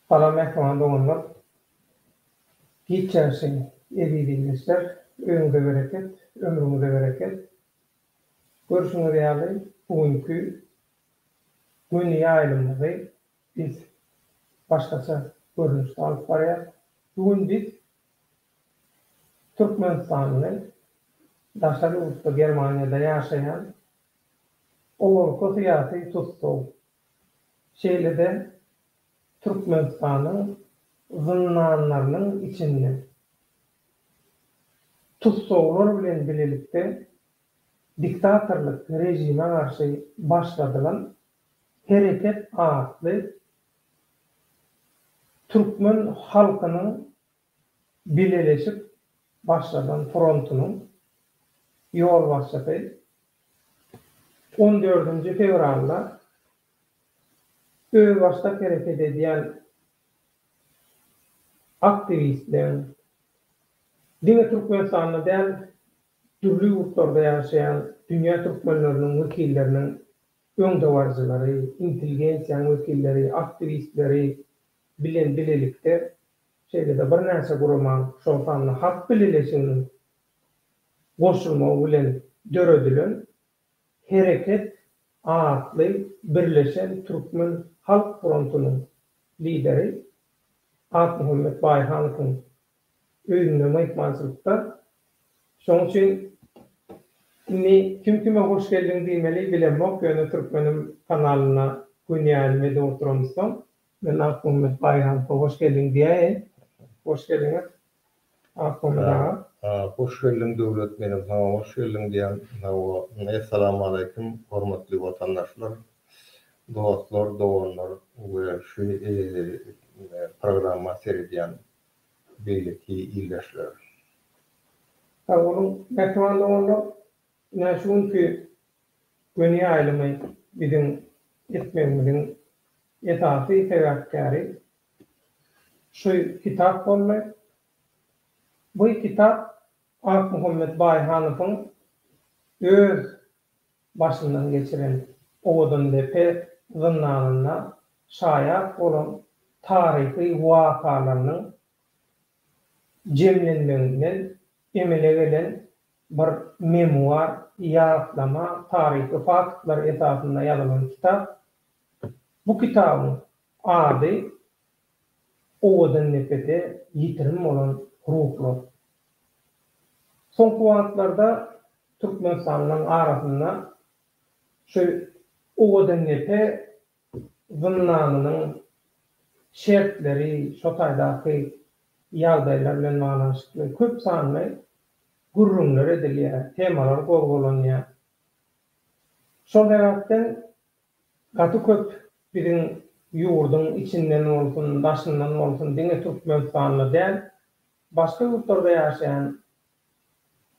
Salam mähriban doganlar. Giç ýaşaň eziz ildeşler. Öýüňize bereket, ömrüňize bereket. Görşüňiz ýaly, bu günki göni ýaýlymyzy biz başgaça görnüşde alyp barýas. Bu gün biz türkmenistanly daşary ýurtda Germaniýada ýaşaýan owalky syýasy tussag Şeýle-de Türkmenistanyň zyndanlarynyň içinde tussaglar bilen bilelikde diktatorlyk režime garşy başladylan Hereket atly türkmen halkynyň Bileleşik başladan frontunyň ýolbaşçysy on dördünji fewralda özbaşdak hereket edýän aktiwistleň, diňe Türkmenistanda däl, dürli ýurtlarda ýaşaýan dünýä türkmenleriniň wekilleriniň öňdebaryjylary, intelligensiýanyň wekilleri, aktiwistleri bilen bilelikde şeýle-de birnäçe guramanyň, şol sanda Halk Bileleşiginiň goşulmagy bilen döredilen Hereket atly birleşen Türkmen halk frontunyň lideri Akmuhammet Baýhanowyň öýünde myhmançylykda. Şonuň üçin indi kim kime hoş geldiň diýmeli bilemok, ýöne Türkmenim kanalynda gün ýaýlym edip oturamyzsoň, Men Akmämmet Baýramowa hoş geldiň diýäýin. Hoş geldiňiz, Akmämmet aga. Hoş geldiň Döwlet, menem saňa hoş geldiň diýýän. Hawa, Essalamualeýkum, hormatly watandaşlar, dostlar, doganlar we şu programma seredýän beýleki ildeşler. Sag boluň, mähriban doganlar! Ine şu günki göni ýaýlymy biziň etmegimiziň esasy sebäpkäri şu kitap boldy. Bu kitap Akmuhammet Baýhanowyň öz başyndan geçiren Owadandepe zyndanynda şaýat bolan taryhy wakalarynyň jemlenmeginden emele gelen Bir memuar, ýatlama, taryhy faktlar esasynda ýazylan kitap. Bu kitabyň ady Owadannepede ýitirim bolan ruhlar. Soňky wagtlarda türkmenistanlylaryň arasynda şu Owadannepe zyndanynyň şertleri, şo taýdaky ýagdaýlar bilen baglanyşykly köp sanly Gürrüňler edilýär, temalar gozgalanýar. Şol sebäpden gaty köp biziň ýurduň içinden bolsun, daşyndan bolsun, diňe Türkmenistanda däl, başga ýurtlarda ýaşaýan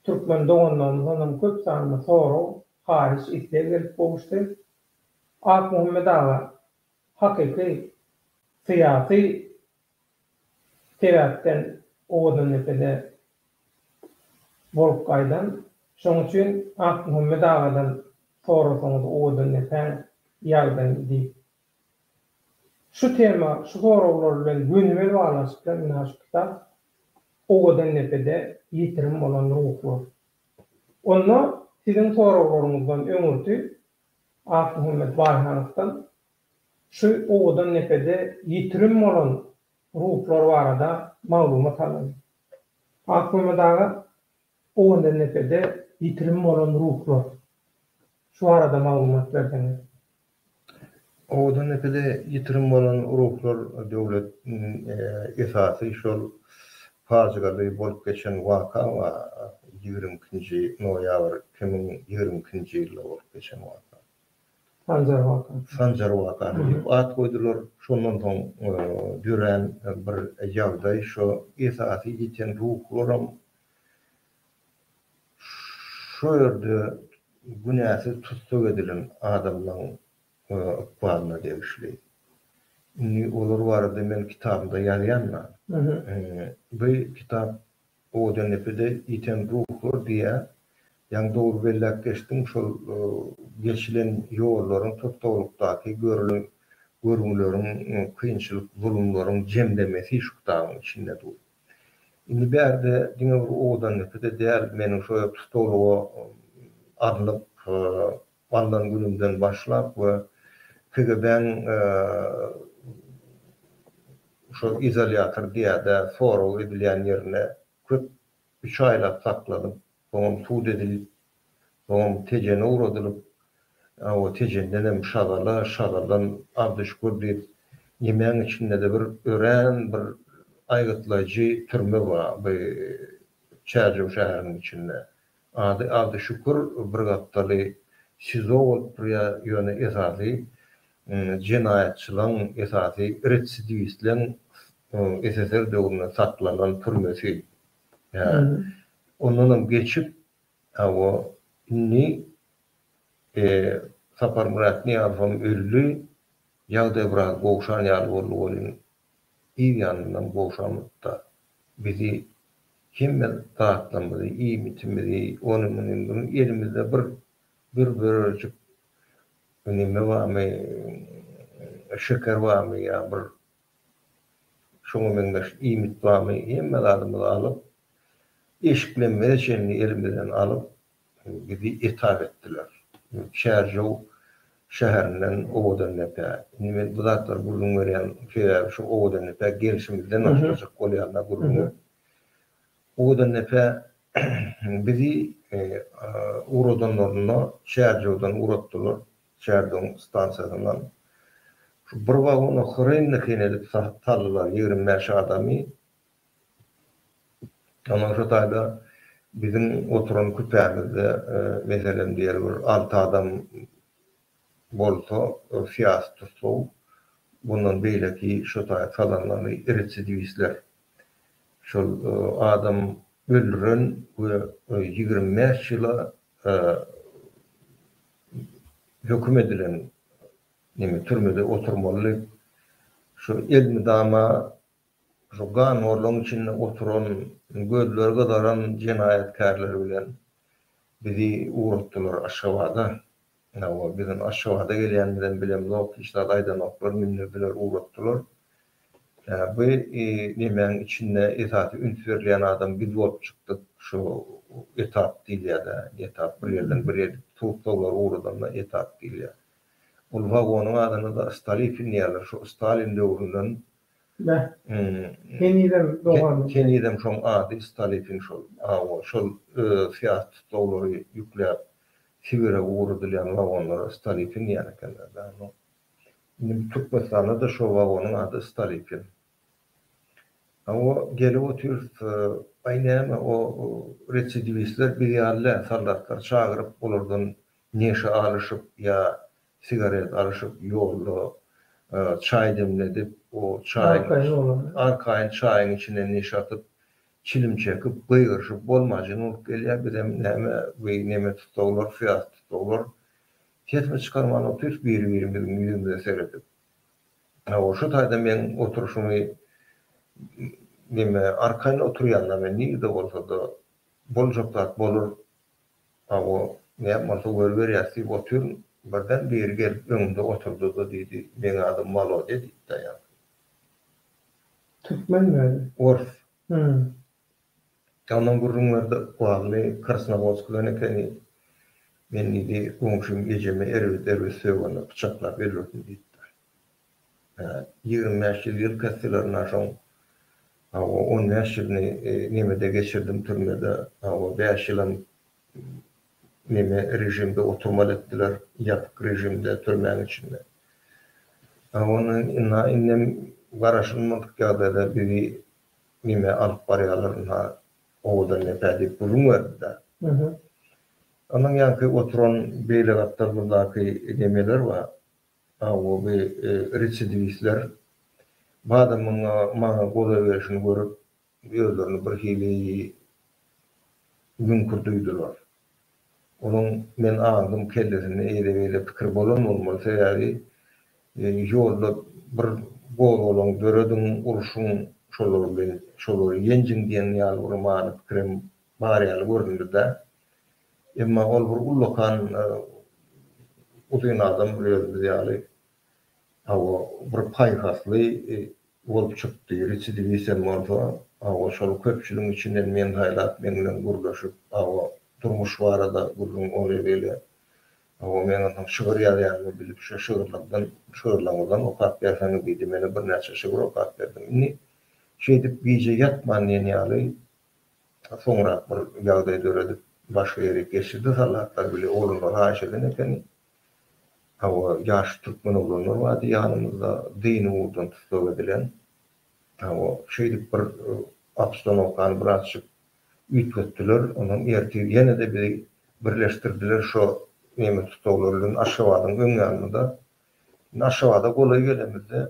türkmen doganlarymyzdan hem köp sanda sorag, haýyş, isleg gelip gowuşdy. Akmuhammet aga hakyky syýasy sebäpden Owadanepede bolup gaýdan. Şonuň üçin Akmuhammet agadan sorasaňyz Owadannepäň ýagdaýyny diýip. Şu tema, şu soraglar bilen gönümel baglanyşykly mundan şu kitap Owadannepede ýitirim bolan ruhlar. Onda siziň soraglaryňyzdan öňürti Akmuhammet Baýhanowdan Şu owadan depede ýitirim bolan ruhlar barada maglumat alyň. Akmammet aga, owadan depede ýitirim bolan ruhlar. Şu barada maglumat berseňiz. Owadan depede ýitirim bolan ruhlar döwlet esasy şol pajygaly bolup geçen waka wa ýigrimi ikinji noýabr iki müň ýigrimi ikinji ýylda bolup geçen waka. Sanjar Watan. Sanjar Watan diýip at goýdular. Şondan soň dörän bir ýagdaý şo esasy ýiten ruhlaram şo ýerde günäsiz tussag edilen adamlaň ykbalyna degişli. Indi olar barada men kitabymda ýazýan-da. Bu kitap Owadan depede ýiten ruhlar diýýär. Ýaňy dogry belläp geçdiň, şol geçilen ýollaryň, tussaglykdaky görülen görgüleriň, kynçylyk, zulumlaryň jemlemesi şu kitabyň içinde dur. Indi bärde diňe bir Owadan depede däl, meniň şo tussaglyga alnyp, Alnan günümden başlap we KGB-niň şo izolýator diýäýdä, sorag edilýän ýerinde köp üç aýlap saklanyp, soňam sud edilip, soňam Tejene ugradylyp, o Tejendenem Şagala, Şagaldan Abdyşükür diýip, ýemäň içinde-de bir örän bir aýgytlaýjy türme bar bu Çärjew şäheriniň içinde. Ady Abdy Şükür bir gapdaly SIZO bolup durýa ýöne esasy jenaýatçylaň esasy retsidiwistleň SSR döwründe saklanan türmesi ýa ondanam geçip hawa indi Saparmyrat Nyýazowam öldi ýagdaý biraz gowşan ýaly boldy welin Yz ýanyndan gowşamyzda, bizi hemme zatlarymyzy, iýmitimizi, ony-muny, muny elimizde bir bir bölejik neme barmy, şeker barmy ýa bir şoňa meňzeş iýmit barmy, hemme zadymyzy alyp, eşiklemizä çenli elimizden alyp, Bizi etap etdiler. Çärjew şäherinden Owadandepä. Indi men bu zatlary gürrüň berýän sebäbi şu Owadandepä gelşimizden başlajak bolýar-da gürrüňe. Owadandepe bizi ugradanlarynda Çärjewden ugratdylar, Çärjewiň stansiýasyndan. Şu bir wagona hreýndeheýin edip saldylar ýigrim bäş adamy. Ondan şu taýda biziň oturan küpämizde, meselem, diýeli bir alty adam bolsa, syýasy tussag bundan beýleki şu taýda sazanlary, retsidiwistler, şol adam öldüren we ýigrimi bäş ýyla höküm edilen türmede oturmaly, şu elmydama Şu ganhorlugyň içinde oturan, gözleri gyzaran jenaýatkärler bilen bizi ugratdylar Aşgabada. Hawa, biziň Aşgabada gelýänimizem bilemzok, hiç zat aýdanoklar, mündürdiler, ugratdylar. Ýa bu nemäň içinde esasy üns berilýän adam biz bolup çykdyk, şu etap diýilýär-dä, etap, bir ýerden bir ýer tussaglar ugradanda etap diýilýär. Ol wagonyň adyna-da Stolipin diýýärler, şu Stalin döwründen Näh? Henizem doganlyk. Henizem şoň ady Stolipin şol. Awa, şol syýasy tusaglary ýükläp Sibire ugradylýan wagonlara Stolipin diýýän ekenler da ony. Indi Türkmenistanda-da şo wagonyň ady Stolipin. Awa, gelip otyrys, aý näme, o residiwistler biz ýaly däl, soldatlar çagyryp, olardan neşe alyşyp ýa sigaret alyşyp, ýolda çaý demledip, o çaýyň, arkaýyn çaýyň içine neşe atyp, çilim çekip, gygyryşyp bolmajyn bolup gelýär. Bizem näme, weý, neme tussaglar, syýasy tussaglar, sesmi çykarman otyrys biri-birimiziň ýüzümize seredip. Hawa, şu taýda meň oturyşymy, neme, arkaýyn oturýanlary nirede bolsa-da, boljak zat bolar Hawa, näme bolsa görüberýäs diýip otyryn, birden biri gelip öňümde oturdy-da diýdi, Meň adym Wolodýa diýip daýan. Türkmen weli? Ors. Hum. Ondan gürrüň berdi, Wally Krasnowodskdan ekeni. Men diýdi, goňşym ejemi erbet-erbet sögende pyçaklap öldürdim diýipdir. Ýigrimi bäş ýyl ýyl kesselerine şoň hawa on bäş ýylyny nemede geçirdim türmede hawa bäş ýylam neme režimde oturmaly etdiler ýapyk režimde türmäň içinde hawa ynha indem garaşylmadyk ýagdaýda bizi neme alyp barýalar ynha owadan depä diýip gürrüň berdiler ondan ýaňky oturan beýle gapdalymyzdaky nemeler bar Awuly residiwistler badamyň maňa golaýberişini görüp, özlerini birhili müňkür duýdular. Onuň men aňdym kellesinde eýle-beýle pikir bolan bolmaly, sebäbi ýolda bir gozgalaň dörediň, urşuň şolar bilen, şolary ýenjiň diýen ýaly bir many pikirem bar ýaly göründi-de. Emma ol bir ullakan uzyn adam bir özümiz ýaly hawa bir paýhasly bolup çykdy, residiwistem bolsa hawa şol köpçüligiň içinden meni saýlap meň bilen gürleşip hawa durmuş barada gürrüň ol ýerli hawa men onsoň şygyr ýazýanymy bilip şo şygyrlardan şygyrlaňyzam okap berseňiz diýdi mena birnäçe şygyr okap berdim indi şeýdip gije ýatman diýen ýaly Soňrak bir ýagdaý döredip, başga ýere geçirdi. Soldatlar bile ogluna raýyş eden ekeni. Hawa, ýaş türkmen oglanlar bardy ýanymyzda, dyny ugurdan tussag edilen. Hawa, şeýdip bir obstanowkany birazjyk üýtgetdiler. Onsoň ertir ýene-de bizi birleşdirdiler şo nemes tussaglar bilen Aşgabadyň öň ýanynda. Indi Aşgabada golaý gelemizde.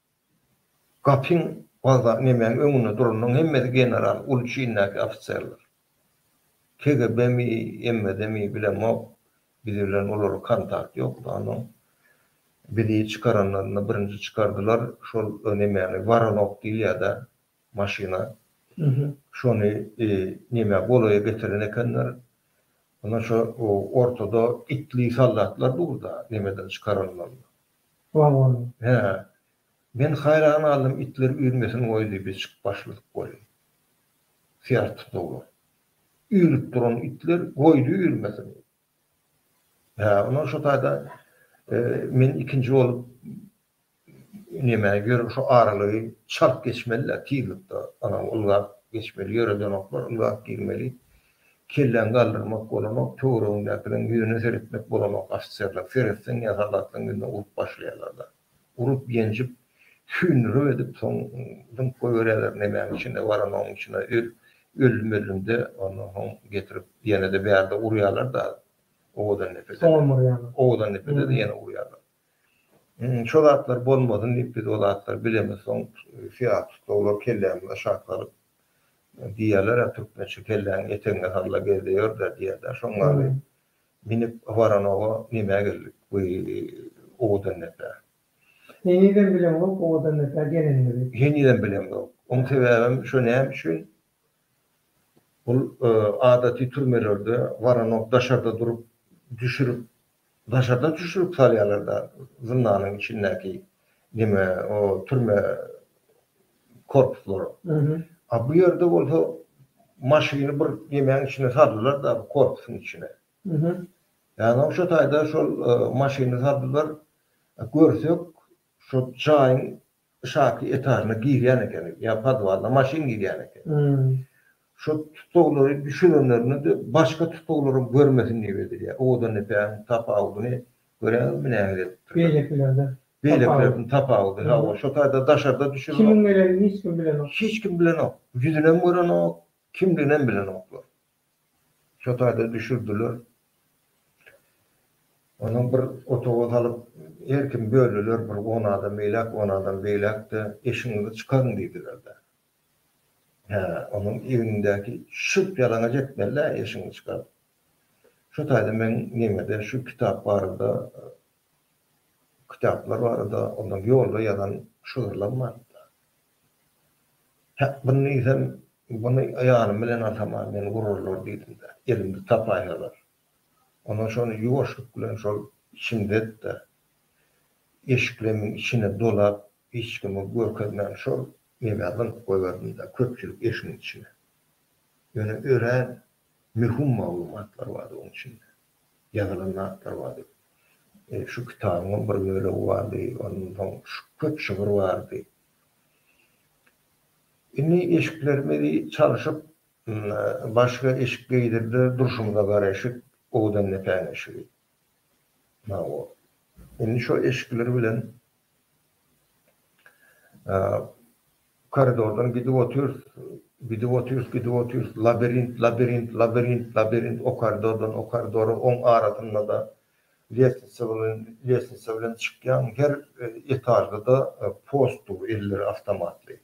Gapyň wagzak nemäň öňünde duranyň hemmesi general, uly çindäki ofiserler. KGB-mi, MVD-mi bilemok, biz bilen olaryň kontakt ýokdy, onsoň bizi çykaranlarynda birinji çykardylar, şol nemäni Woronok diýilýär-dä maşyna, şony nemä golaýa getiren ekenler, ondan şo ortada itli soldatlar dur-da nemeden çykaranlarynda. Wagon, hä. Men haýran galdym, itler üýrmesin goý diýip içip başladyk weli. Syýarat tutdular. Üýrüp duran itler goýdy üýrmesin. Hä, ondan şo taýda men ikinji bolup näme ýörün şo aralygy çalt geçmeli-dä, tizlikde, anaw ylgap geçmeli, ýöredenoklar, ylgap girmeli. Kelläňi galdyrmak bolanok, töweregiňdäkileriň ýüzüne seretmek bolanok ofiserler, seretseň ýa soldatlaryň ýüzüne urup başlaýarlarda. Urup, ýenjip, süýndürip edip soň zyňyp goýberýärler nemäň içinde baran oň içine öl, öllüm-öllümde ondan soň getirip ýene-de bärde urýarlar-da owadan depede-de, owadan depede-de ýene urýarlar. Şo zatlar bolmasyn diýip biz o zatlary bilemiz. Soň syýasy tutlaglar kellämize şat salyp diýýärler-ä türkmençe kelläňi etegine salla gezde ýör-dä diýýär-dä. Şoň ýaly minip Waranowa nemä geldik bu owadandepä. Henizem bileňok owadandepä gelenimizi. Henizem bileňok. Oň sebäbem şo näme üçin Bul adaty türmelerde waronok daşarda durup düşürip daşardan düşürip salýarlarda zyndanyň içindäki neme o türme korpuslary. A bu ýerde bolsa maşyny bir nemäň içine saldylarda bu korpusyň içine. Ýagny şo taýda şol maşyny saldylar. Görsek şo jaýyň Yşaky etažyna girýän ekeni, ýa podwalyna maşyn girýän ekeni. Şo tusaglary düşürenlerinde-de başga tusaglary görmesin diýip edilýär. Owadan depäniň tapawudyny göräňizmi nähili edipdirler. Beýlekilerden. Beýlekilerden tapawudy, hawa, şo taýda daşarda düşürenok. Kimiň gelenini hiç kim bilenok. Hiç kim bilenok. Ýüzünem görenok, kimdiginem bilenoklar. Şo taýda düşürdiler. Onuň bir otaga salyp, her kim böldiler, bir on adam eýläk, on adam beýläk-de, eşigiňizi çykaryň diýdiler-de. Hä, onuň egnindäki şyrt ýalaňaç etmeli-dä eşigiňi çykaryp. Şo taýda men nemede şu kitap barada, kitaplar barada, ondan ýolda ýazan şygyrlam bardy-da. Hak-byn diýsem, buny aýalym bilen atamam meni urarlar diýdim-de, elimde tapaýalar. Ondan şony ýuwaşlyk bilen şol içimde etde, eşiklemiň içine dolap, hiç kime görkezmän şol ýeňä zyňyp goýberdim-de, köpçülik eşigiň içine. Ýöne örän möhüm maglumatlar bardy oň içinde. Ýazylan zatlar bardy. Şu kitabyňam bir bölegi bardy, ondan soň köp şygyr bardy. Indi eşiklerimizi çalşyp, başga eşik geýdirdiler, durşumyza garaşyp, owdan depäň eşigi. Hawa. Indi şo eşikler bilen koridordan gidip otyrys, gidip otyrys, gidip otyrys, labirint, labirint, labirint, labirint, o koridordan o koridora, oň arasynda-da Lestnitsa bilen lestnitsa bilen çykýaň, her etažda-da post dur, elleri awtomatly.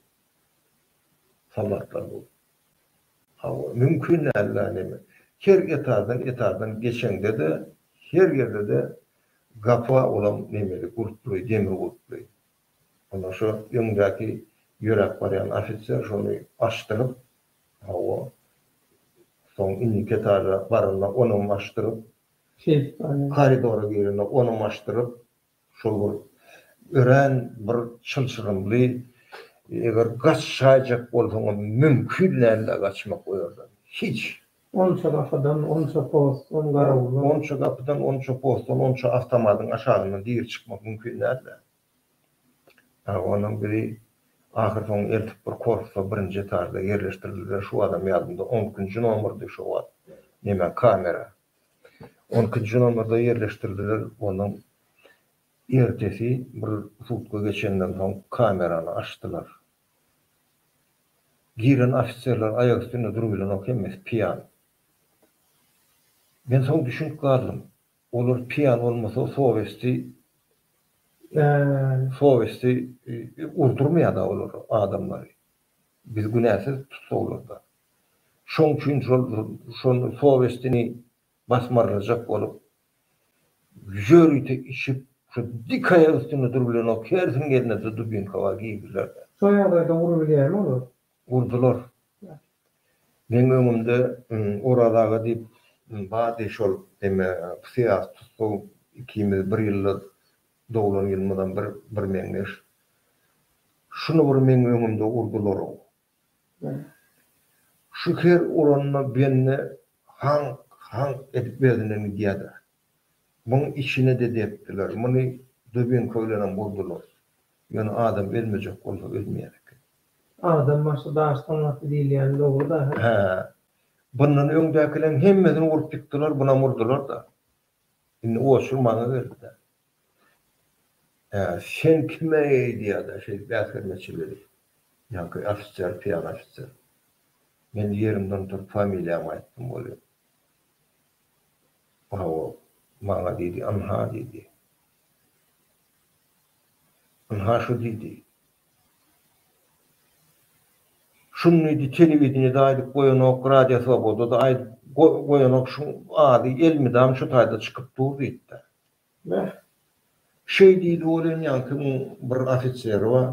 Soldatlar bu. Hawa, mümkin däl-la neme. Her etaždan etaždan geçeňde-de, her ýerde-de gapa olam nemeli, gulply, demir gulply. Onda şo öňdäki ýöräp barýan ofiser şony açdyryp, hawa, soň indiki etaža baranda onam açdyryp, Koridora girende ony maşdyryp, şol bir örän bir çylşyrymly, eger gaçaýjak bolsaňam mümkin däldi-ä gaçmak o ýerden. Hiç. Onça gapydan, onça postdan, garawuldan. Onça gapydan, onça postdan, onça awtomadyň aşagyndan diri çykmak mümkin däldi-ä. A onuň biri ahyrsoňy eltip bir korpusa birinji etažda ýerleşdirildi-de, şu adam ýadymda on ikinji nomerdi şo wagt. Neme, kamera. On ikinji nomerda ýerleşdirdiler. Onuň ertesi bir sutka geçenden soň kamerany açdylar. Giren ofiserler aýak üstünde durup bilenok, hemmesi piýan. Men soň düşünip galdym. Olar piýan bolmasa sowesti sowesti urdurmaýar-da olar adamlary. Biz günäsiz tussaglarda. Şoň üçin şol şonda sowestini basmarlajak bolup, ýörite içip, şu dik aýak üstünde durup bilenok, hersiň gelninde dubinka bar, girdiler. Şol ýagdaýda urup bilýärmi olar? Urdular. Meň öňümde Oraz aga diýip bardy, şol eme syýasy tussag, ikimiz bir ýylda doglan ýylymyzam bir birmeňzeş. Şuny bir meň öňümde urdular-ow. Şu her uranda bende haňk, haňk edip özünden gidýärdi. Muň içine-de depdiler. Muny dubinka bilenem urdular. Ýöne adam ölmejek bolsa ölmeýän eken. Adam başy daş tamlasy diýilýäni dogry dahy. Hä. Bundan öňdäkileriň hemmesini urup ýykdylar, bunam urdular-da. Indi oçurmaga geldi-de. Ä sen kime eýdýäda şeý bäsgelmeçiligi? Ýaňky ofiser, pyýan ofiser. Men ýerimden turup familiýamy aýtdym welin. Hawa, maňa diýdi, ynha diýdi. Ynha şu diýdi. Şuny diýdi telewideniýede aýdyp goýanok, Radio Swobodada aýdyp goýanok, şuň ady elmydam şu taýda çykyp dur diýipdir. Beh, şeý diýdi welin, ýaňkynyň bir ofiseri bar,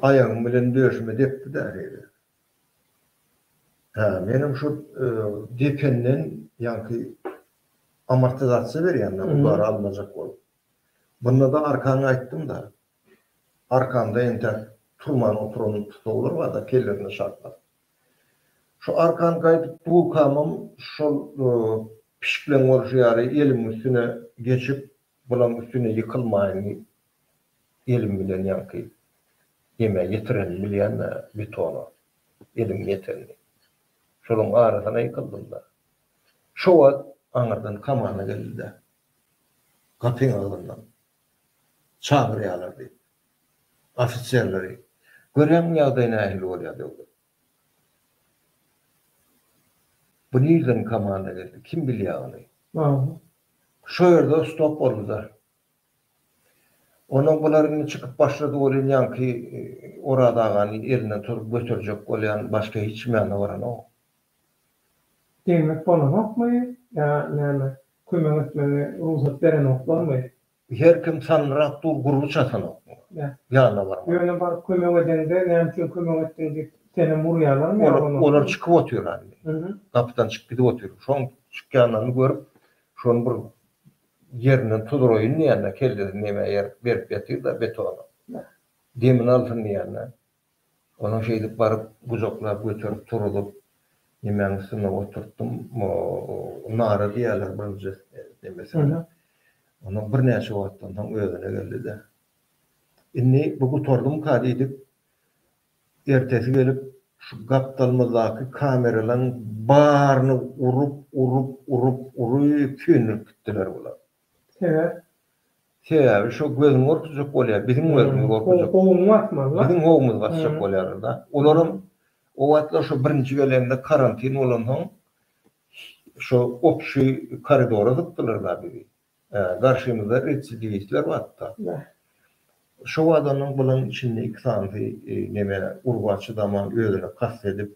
aýagym bilen döşüme depdi-de şeýle. Hä, menem şo dependen ýaňky amortizasiýa berýän-dä, ular almajak bolup. Bunda-da arkaňy aýtdym-da. Arkamda entäk turman oturan putawlar bar-da, kellemde şartlap. Şu arkan gaýdyp durkamam şol pişikleň bolşy ýaly elimiň üstüne geçip, bulaň üstüne ýykylmaýyn diýip, elim bilen ýaňky demä ýetirenini bilýän-dä, betona elimiň ýetenini. Şolaň arasyna ýykyldym-da. Şo wagt aňyrdan komanda geldi-de, gapyň agzyndan. çagyrýarlar diýip, ofiserleri. Görýäňmi ýagdaý nähili bolýar döwlet. Bu nirden komanda geldi, kim bilýär ony. Şo ýerde stop boldy-da. Ondan bular indi çykyp başlady welin ýaňky Oraz agany elinden tutup göterjek bolýan başga hiç kim ýanyna baranok. Degmek bolanokmy ýa näme kömek etmegi rugsat berenoklarmy. Her kim salnyrak dur gurby çatanokmy ýanyna barmaga. Ýöne baryp kömek edeňde näme üçin kömek etdiň diýip senem urýalarmy ýa urmazmy. Olar çykyp otyrlar indi. Gapydan çykyp gidip otyr. Şoň çykýanlaryny görüp şony bir ýerinden tudraýyn diýende kellesini näme berip ýatyr-da betona. Demini alsyn diýende. Ony şeýdip baryp, gujaklap göterip turuzyp, nemäň üstünde oturtdym, nara diýerler birinji demesine. Ondan birnäçe wagtdan soň özüne geldi-de. Indi bu gutardymyka diýdik. Ertesi gelip, şu gapdalymyzdaky kameralaryň baryny urup, urup, urup, urup, söndürip gitdiler bular. Sebäp? Sebäbi şo gözüňi gorkuzjak bolýar, biziň gözümizi gorkuzjak. Howuňy basmaly. Biziň howumyzy basjak bolýarlar-da. Olaram o wagtlar şo birinji gelende karantin bolansoň şo opşi koridora dykdylar-da bizi. Garşymyzda retsidiwistler bardy-da. Şo wagdanam bulan içinde iki sanysy neme urba çydaman özüne kast edip,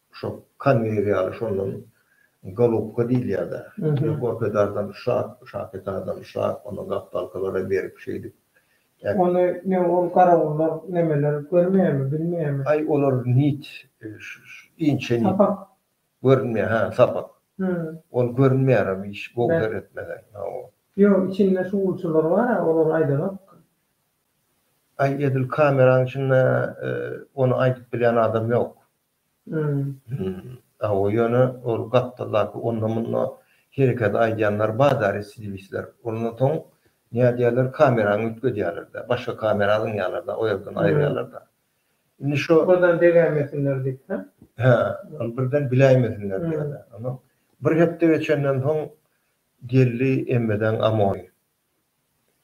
Şo Kanniýe ýaly şondan golubka diýilýär-dä. Gorpedardan şap, şapetardan şap, onda gapdalkalara berip şeýdip. Ony ne ol garawullar nemeler görmeýärmi, bilmeýärmi? Aý olar nit inçe nit. Sapak. Görünmeýär, hä, sapak. Ol görünmeýärem hiç gowy seretmesen. Hawa. Ýok, içinde şugulçylar bar-a, olar aýdanok. Aý edil kameraň içinde ony aýdyp bilýän adam ýok. Hawa, ýöne ol gapdaldaky onda-munda hereketi aýdýanlar bar-da, residivistler. Ondan soň nädýärler, kamerany üýtgedýärler-de, başga kamera alynýarlar-da, o ýerden aýyrýarlar-da. Indi şo. Birden degäýmesinler diýip, hä? Hä, ol birden biläýmesinler diýýärler. Onsoň bir hepde geçenden soň geldi Emmedeň Amoýy.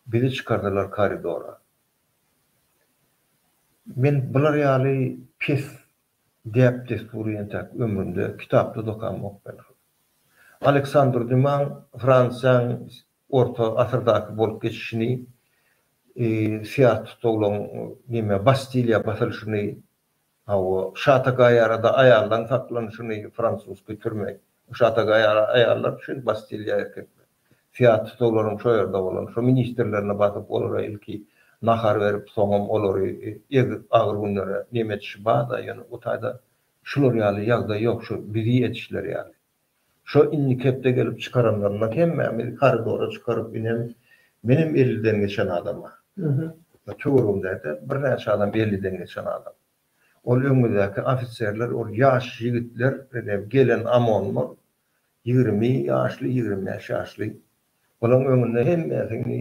Bizi çykardylar koridora. Men bular ýaly pes däp-dessury entäk ömrümde kitapda-da okamok belgim. Aleksandr Dýumaň Fransiýaň orta asyrdaky bolup geçişini, syýasy tutsaglygyn, neme, Bastiliýa basylyşyny, Hawa, şatagaýarada aýaldan saklan şuny fransuski türme. Bu şatagaýara aýallar üçin bastilýa erkekler. Fiatus olaryň şo ýerde bolan şo ministrlerine basyp olara ilki nahar berip soňam olary ezip agyr günlere nemetişi barda ýöne bu taýda şular ýaly ýagdaý ýok şu bizi etişleri ýaly. Şo indiki hepde gelip çykaranlarynda hemmämizi koridora çykaryp inem menem elliden geçen adama. Töweregimdäde birnäçe adam elliden geçen adam. Ol öňümizdäki ofiserler ol ýaş ýigitler ine gelen amonlar ýigrimi ýaşly ýigrimi bäş ýaşly. Bulaň öňünde hemmesini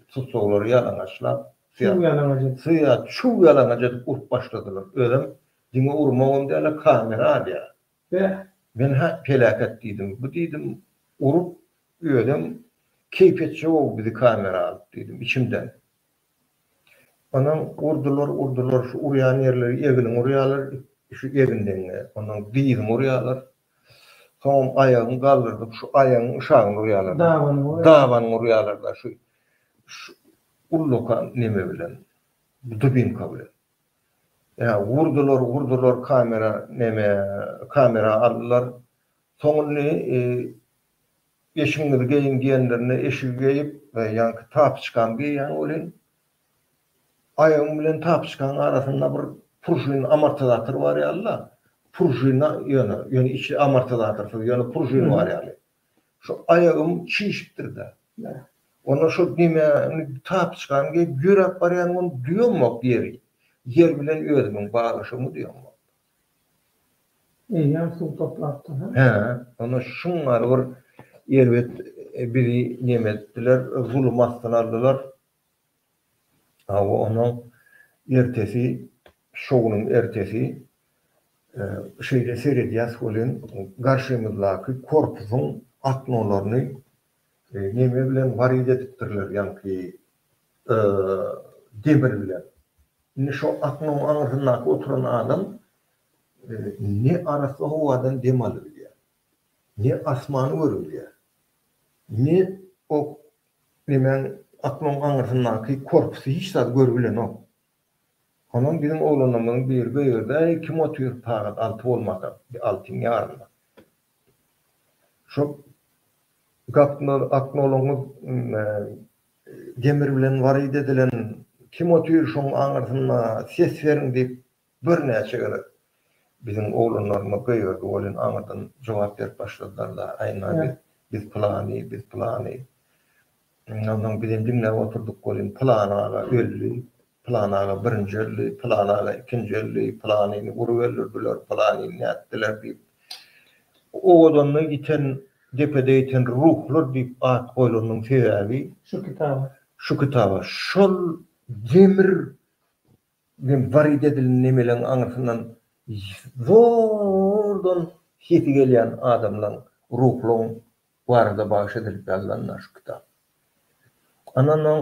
tussaglary ýalaňaçlap Çuw ýalaňaç edip. Çuw ýalaňaç edip urup başladylar. Özem diňe urmagam däl-a kamera alýar. Be, men-hä peläket diýdim. Bu diýdim, urup, özem keýp etjek-ow bizi kamera alyp diýdim içimden. Onsoň urdular, urdular, şu urýan ýerleri eglin urýarlar, şu egin deňňe, onsoň dyzyň urýarlar. Soňam aýagyň galdyrdyp, şu aýagyň yşagyny urýarlar. Dabanyňy urýarlar. Dabanyňy urýarlar-da şu ullakan neme bilen, dubinka bilen. Ýa urdular urdular kamera neme kamera aldylar soň indi eşigiňizi geýiň diýenlerinde eşigi geýip ýaňky tapiçkamy geýýän welin aýagym bilen tapiçkanyň arasynda bir pružin amortizator bar ýaly-da pružina ýöne ýöne içi amortizatorsyz ýöne pružin bar ýaly Şu aýagym çişipdir-dä. Onda şo nemäni tapyçkany geýip ýöräp barýan gün duýamok ýeri. Ýer bilen özümiň baglaşygmy duýamok. Eýýäm suw toplapdyr-a? Hä. Onda şuňňar bir erbet bizi nemetdiler, zulum astyna aldylar. Hawa, onda ertesi, şo günüň ertesi şeýle seredýäs welin, garşymyzdaky korpusyň aknolaryny neme bilen warid edipdirler, ýaňky demir bilen. Indi şo aknyň aňyrsyndaky oturan adam ne arassa howadan dem alybilýär, ne asmany görebilýär, ne o Emäň aklyň aňyrsyndaky korpusy hiç zat görüp bilenok. Onam biziň oglanlarymyzyň biri göýerdi-äý, kim otyr, pagat alty bolmasa, bir altyň ýarynda. Şol gapylar, aknolaňyz demir bilen waryt edilen, kim otyr şoň aňyrsynda, ses beriň diýip, Birnäçe gezek biziň oglanlarymyz göýerdi welin aňyrdan jogap berip başladylar-da, Aýna biz, biz pylany, biz pylany. Ondan soň bizem diňläp oturdyk welin, Pylan aga öldi, pylan aga birinji öldi, pylan aga ikinji öldi, pylanyny urup öldürdiler, pylanyny nätdiler diýip, owadanda ýiten, depede ýiten ruhlar diýip at goýlanynyň sebäbi, şu kitaba, şol demir Men Warid edilen nemeleň aňyrsyndan zordan sesi gelýän adamlaň, ruhlaň barada bagyş edilip ýazylan-da şu kitap. Andan oň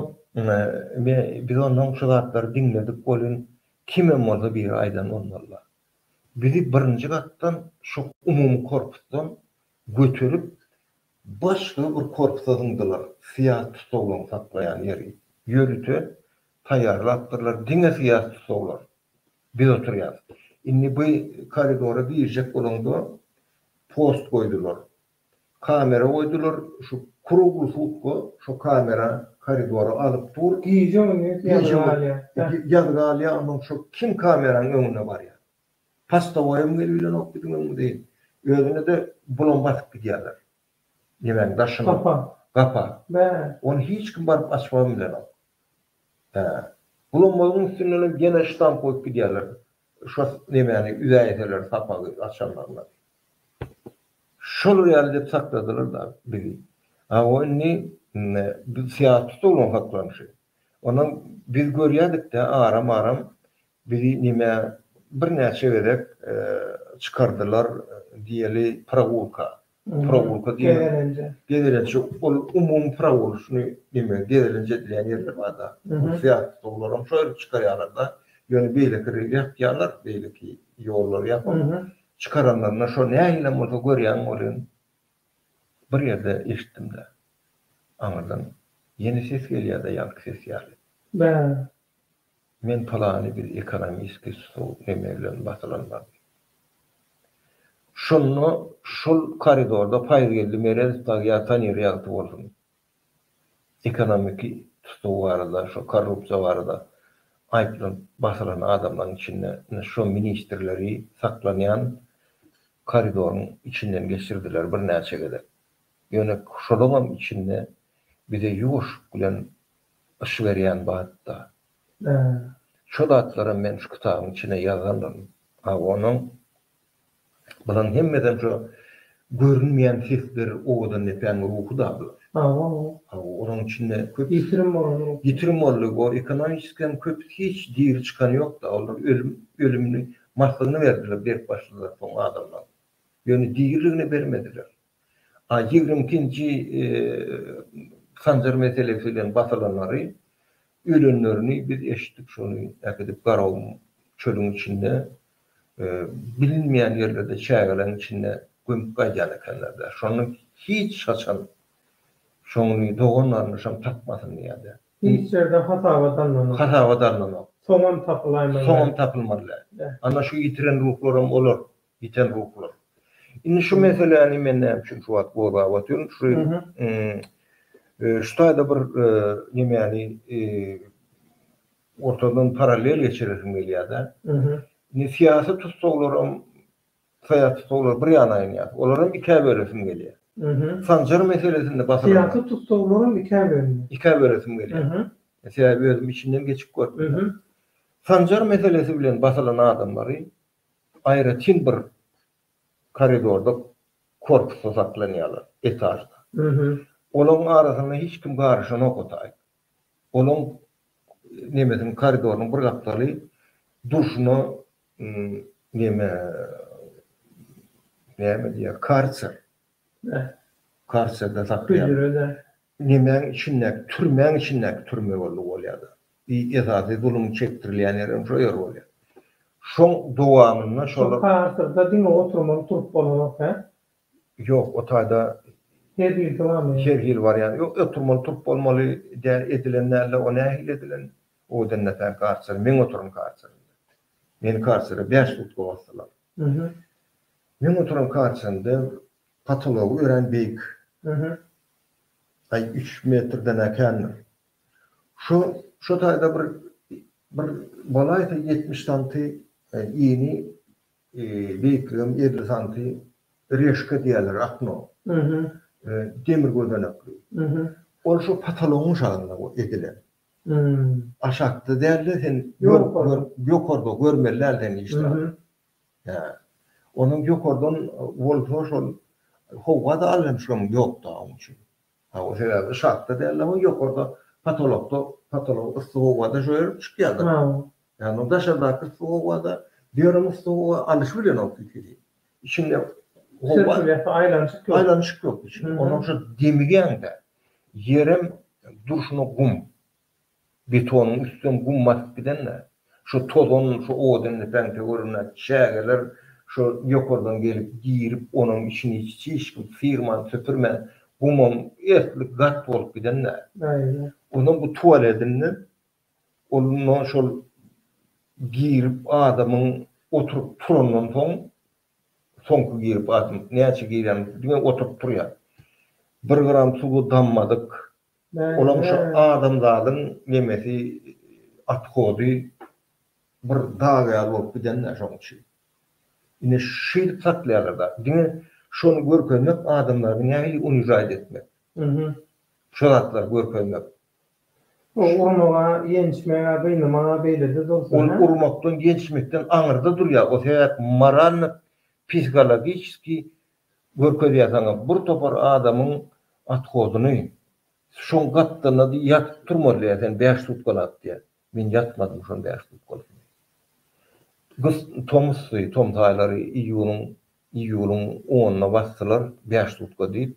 me biz ondan şu zatlary diňledik welin, kimem bolsa biri aýdan bolmaly-da. Bizi birinji gatdan şu umumy korpusdan göterip, başga bir korpusa zyňdylar, syýasy tussaglaň saklaýan ýeri, ýörite Taýýarlapdyrlar diňe syýasy tussaglar. Biz oturýas. Indi bu koridora girjek bolaňda post goýdular. Kamera goýdular, şu krugly sutka şo kamera koridora alyp dur. Gije gündiz ýazga galýas. Ýazga galýas ondan şo kim kameranyň öňüne barýar. Postowaýam gelip ilenok biziň öňümize. Özüne-de bulam basyp gidýärler. Nemäň daşyň? Gapa. Gapa. Bä. Ony hiç kim baryp açybam bilenok. Hä. Bulammazyň üstündenem gene ştamp goýup gidýärler. Şo nemäni üzäýseler sapagy açanlaryna. Şolar ýaly edip sakladylar-da bizi. A o indi biz syýahat tutulgyň saklanyşy. Onam biz görýädik-dä aram-aram Bizi nime birnäçe gezek çykardylar diýeli prowulka. Prowulka diýen Gezelenje. Gezelenje ol umumy prowul şuny nime gezelenje edilýän ýerler barda. Ol syýahatda olaram şo ýere çykarýarlarda. Ýöne beýleki rel ýapýarlar, beýleki ýollary ýapyp çykaranlarynda şo nähilem bolsa görýän welin bir ýerde eşitdim-de. Aňyrdan ýene ses gelýär-de ýaňky ses ýaly. Bä. Men pylany biz ekonomiski stol eme bilen basylan bardy. Şonda şol koridorda Paýzgeldi Meredow dagy ýa Tanir ýagty bolsun ekonomiki tutuw barada şo korrupsiýa barada aýyplanyp basylan adamlaryň içinde ine şo ministrleri saklanýan koridoryň içinden geçirdiler birnäçe gezek. Ýöne şolaňam içinde bize ýuwaşlyk bilen yş berýän batda. Şo zatlaram men şu kitabyň içine ýazandyr. A onuň Bulan hemmeden şo görünmeýän sesler owadan depäň ruhy da bu. Hawa. Hawa, onuň içinde köp. Ýitirim bolan ruh. Ýitirim boldy. O ekonomiski hem köp hiç diri çykany ýok da. Olar ölüm, ölümini, maslygyny berdiler, berk başlylar soň adamlaryň. Ýöne diriligini bermediler. A ýigrimi ikinji Sanjar meselesi bilen basalanlary, ölenlerini biz eşitdik, şony äkidip Garagum çölüň içinde bilinmeýän ýerlerde çägeleň içinde gömüp gaýdýan ekenler-dä. Şony hiç haçan şony dogan garyndaşam tapmasyn diýýä-dä. Hiç ýerde hasabat alnanok. Hasabat alnanok. Soňam tapylaýmaly. Soňam tapylmaly. Ana şu ýitiren ruhlaram olar. Ýiten ruhlar. Indi şu meseläni men näme üçin şu wagt gozgap otyryn, şu şu taýda bir nemäni ortadan parallel geçiresim gelýär-de. Indi syýasy tussaglaram, syýasy tussaglar bir ýana aýynýar. Olaram ikä bölesim gelýär. Sanjar meselesinde basylan. Syýasy tussaglaram ikä bölünýär. Ikä bölesim gelýär. Sebäbi özüm içinden geçip gördüm. Sanjar meselesi bilen basylan adamlary Aýratyn bir koridorda korpusda saklanýarlar, etažda. Olaryň arasyna hiç kim garyşanok otaýyň. Olaryň nemesiniň, koridorynyň bir gapdaly durşuna neme, näme diýýär, karser. Karserde saklaýarlar. Hüjre-de. Nemäň içindäki, türmäň içindäki türme boldy ol ýa-da. I esasy zulum çekdirilýän ýer hem şo ýer bolýar. Şoň dowamynda şolar. Şo parsyrda diňe oturmaly turup bolanok hä? Ýok, o taýda. Her hili barmy? Her hili bar ýaly. Ýok, oturmaly turup bolmaly däl, edilen dälde o nähili edilen? Owadan nätär karçer, men oturan karçerimde. Meni karçere bäş sutka basdylar. Meň oturan karçerimde Potology örän beýik. Aý üç metrden-ä kändir. Şu şu taýda bir bir bolaýsa ýetmiş santy ini beýikligem elli santy reşka diýerler akno. Demir gözenekli. Ol şu potologyň şalyna edilen. Aşakda däl-de sen ýokarda görmeli däl sen işdäl. Hä. Onuň ýokardan bolsa şol howada alyşmyşlygym ýokda oň üçin. Ha o sebäbi şatda dälde o ýokarda potolokda potolok yssy howada şoýalyp çykýada. Ýagny o daşardaky yssy howada ýörem yssy howa alyşy bilenok ikisi. Içinde howa aýlanyşyk ýok. Aýlanyşyk ýok içinde. Onuň şo demigäňde ýerem durşuna gum. Betonyň üstünden gum basyp gidende, şu tozan, şu odun-lepeňte görünýär. Çägeler şu ýokardan gelip, girip, onuň içini hiç kim syrman, süpürmän, gumam ertlik gat bolup gidende, ondan bu tualetinden, ondan şol girip, adamyň oturyp turandan soň, Soňky girip gatyň näçe girýän diňe oturyp turýar. Bir gram suwy dammadyk. Olaň şu adamzadyň nemesi othody bir dag ýaly bolup gidendä şoň üçin. Ine şeýdip saklaýarlarda. Diňe şony görkezmek adamlary nähili unižaýt etmek. Şu zatlary görkezmek. Ol urmaga, ýençmege, gynamaga beýlede dursa hä? Ol urmakdan, ýençmekden aňyrda durýar. O sebäp moralny psihologiçeskiý görkezýärsiňa bir topar adamyň othodyny. Şoň gapdalynda diý ýatyp turmaly diýýär sen bäş sutkalap diýýär. Men ýatmadym şoň bäş sutkalygyny. Gyz tomusdy, tomus aýlary iýunyň iýulyň onuna basdylar bäş sutka diýip.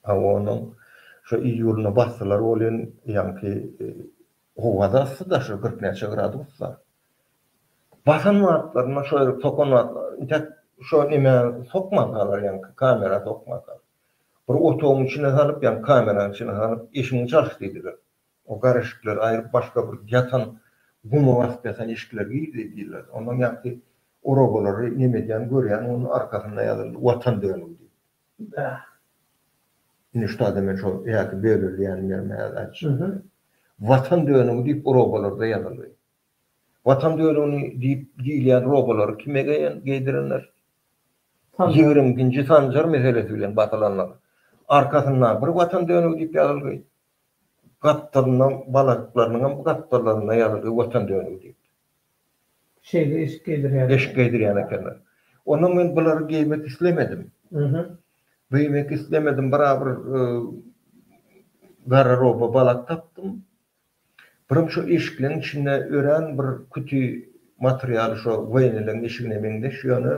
Hawanyň şu iýulynda bassylar bolýan ýaňky howa-da yssy-da, şol kyrk näçe gradus-da. Basan wagtlarynda şo ýerik sokan wagtlarynda, intäk şo nämä sokmankalar ýaňky, kamera sokmankalar. Bir otagyň içine salyp, ýaňky kameranyň içine salyp, eşigiňi çalyş diýdiler. O garryşikleri aýryp başga bir ýatan guma basyp ýatan eşikler girdi diýilirdi. Ondan ýaňky orabalary neme edýän görýän onuň arkasynda ýazyldy Watan dönügi diýip. Bäh. Indi şutada men şo ýaky böleli ýanym ýerime ýazy aýtjak. Watan dönügi diýip orabalarda ýazyldy. Watan dönügini diýip diýilýän robalary kime geýen geýdirenler? Ýigrimginji Sanjar meselesi bilen basylanlar. Arkasynda bir Watan dönügi diýip ýazyldy. Gapdalynyň balalyklarynyňam gapdallarynda ýazyldy Watan dönügi diýip. Şeýle eşik geýdirýärler. Eşik geýdirýän ekenler. Onda men bulary geýmek islemedim. Geýmek islemedim. Birabir gararoba balak tapdym. Birim şo eşikleň içinde örän bir küti materialy şo woýneleň eşigine meňzeş, ýöne